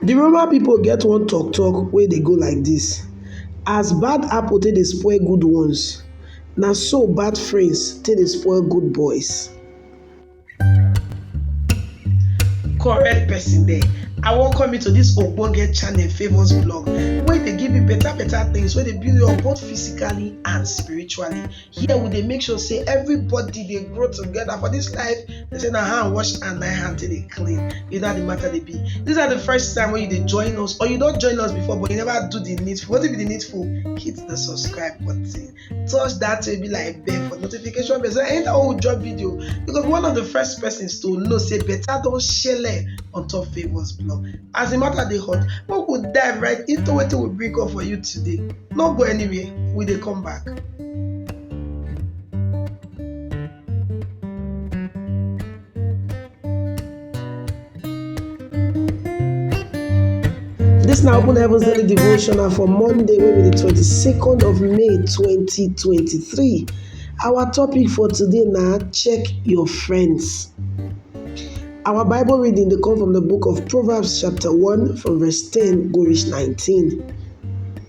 The Roma people get one talk talk wey dey go like this, As bad apple take dey spoil good ones, na so bad friends take dey spoil good boys. Correct person there, I welcome you to this ogbonge channel Favours Blog wey dey give you better better things wey dey build you up both physically and spiritually. here we dey make sure say everybody dey grow together for this life they say na hand wash and na hand take dey clean you know how the matter dey be this na the first time wey you dey join us or you don join us before but you never do the needful wetin be the needful hit the subscribe button touch that way be like bell for notification bell so anytime wey we drop video you go be one of the first persons to know say better don shele on top favours blog as the matter dey hot make we dive right into wetin we bring up for you today no go anywhere we dey come back. This now open heavens daily devotional for Monday, wey be the 22nd of May 2023. Our topic for today na check your friends. Our Bible reading dey come from the book of Proverbs chapter 1 from verse 10 go reach 19.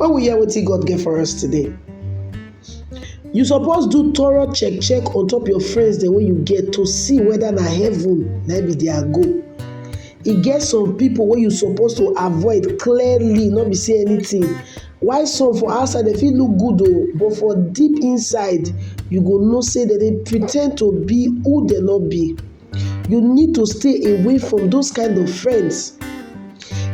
Make we hear wetin God get for us today. You suppose do thorough check check on top your friends dem wey you get to see whether na heaven na be their goal. E get some people wey you suppose to avoid clearly no be say anything while some for outside dem fit look good oo but for deep inside you go know say dem dey pre ten d to be who dem no be. you need to stay away from those kind of friends.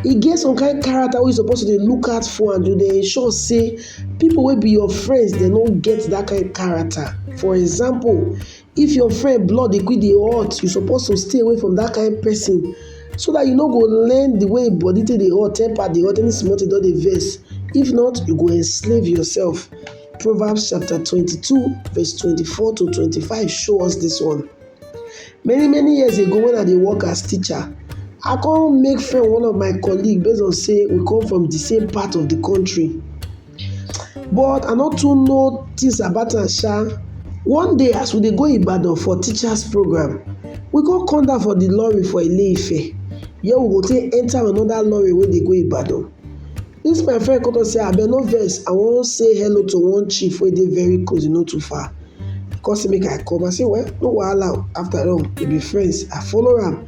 E get some kind character wey you suppose to dey look out for and you dey ensure sey people wey be your friends dem no get that kind character. For example, if your friend blood dey quick dey hot, you suppose to stay away from that kind person so that you no go learn the way im body take dey hot, temper dey hot, any small thing don dey vex. If not, you go enslave yourself. Proverbs chapter twenty two verse twenty four to twenty five show us this one. Many many years ago wen I dey work as teacher, I come make friend with one of my colleague base on sey we come from de same part of de country but I no too know things about am sha. One day as we dey go Ibadan for teachers program, we come come down for de lorry for Ile-Ife where we go take enter another lorry wey dey go Ibadan. Dis my friend come talk sey abeg no vex I wan sey hello to one chief wey dey very close e no too far. e come say make I come I say well no wahala o after all we be friends I follow am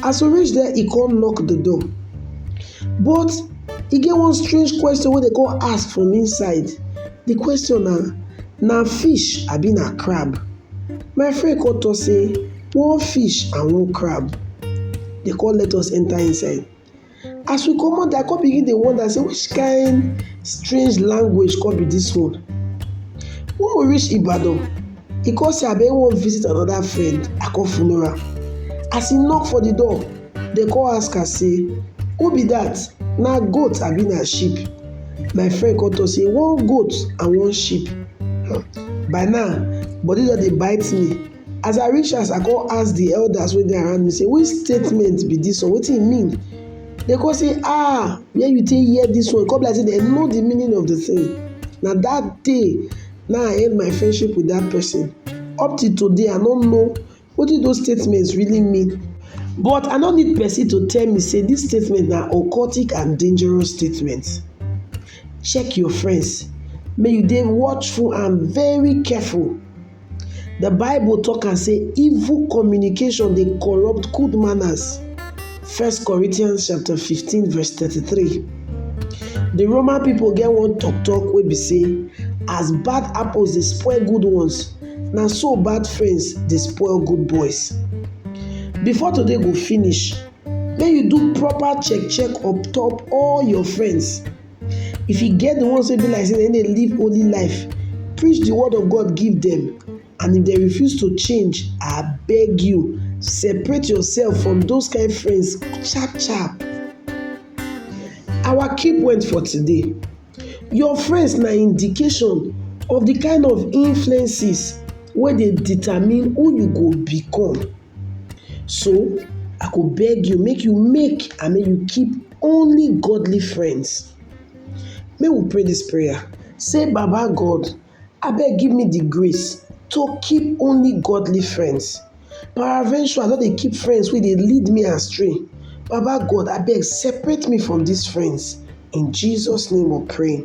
as we reach there e come knock the door but e get one strange question wey dey come ask from inside the question na na fish abi na crab my friend come talk say one fish and one crab dey come let us enter inside As we comot there, I come begin dey wonder sey which kind strange language come be dis one. When we reach Ibadan, e come say abeg im wan visit another friend, I come follow am. As e knock for the door, dem come ask am sey who be that? Na goat abi na sheep? My friend come talk sey one goat and one sheep. By now, body don dey bite me. As I reach house, I come ask the elders wey dey around me say, Which statement be this one? Wetin e mean? They come say, Ah, where you take hear this one? Come be like say they know the meaning of the thing. Now that day, now I end my friendship with that person. Up till today, I don't know what did those statements really mean. But I don't need person to tell me say this statement now occultic and dangerous statement. Check your friends. May you be watchful and very careful The Bible talk and say evil communication they corrupt good manners. 1 Corinthians chapter 15 verse 33. The Roman people get one talk talk where be say as bad apples they spoil good ones, now so bad friends they spoil good boys. Before today go finish, then you do proper check check up top all your friends If e get the ones wey be like sey dem dey live holy life, preach the word of God give dem and if dem refuse to change, abeg you separate yourself from those kind friends sharp sharp. Our key point for today, your friends na indication of the kind of influences wey dey determine who you go become. So, I go beg you make you make and make you keep only godly friends. Make we pray dis prayer say baba God abeg give me de grace to keep only godly friends paraventure I no dey keep friends wey dey lead me astray baba God abeg separate me from dis friends in Jesus name we pray.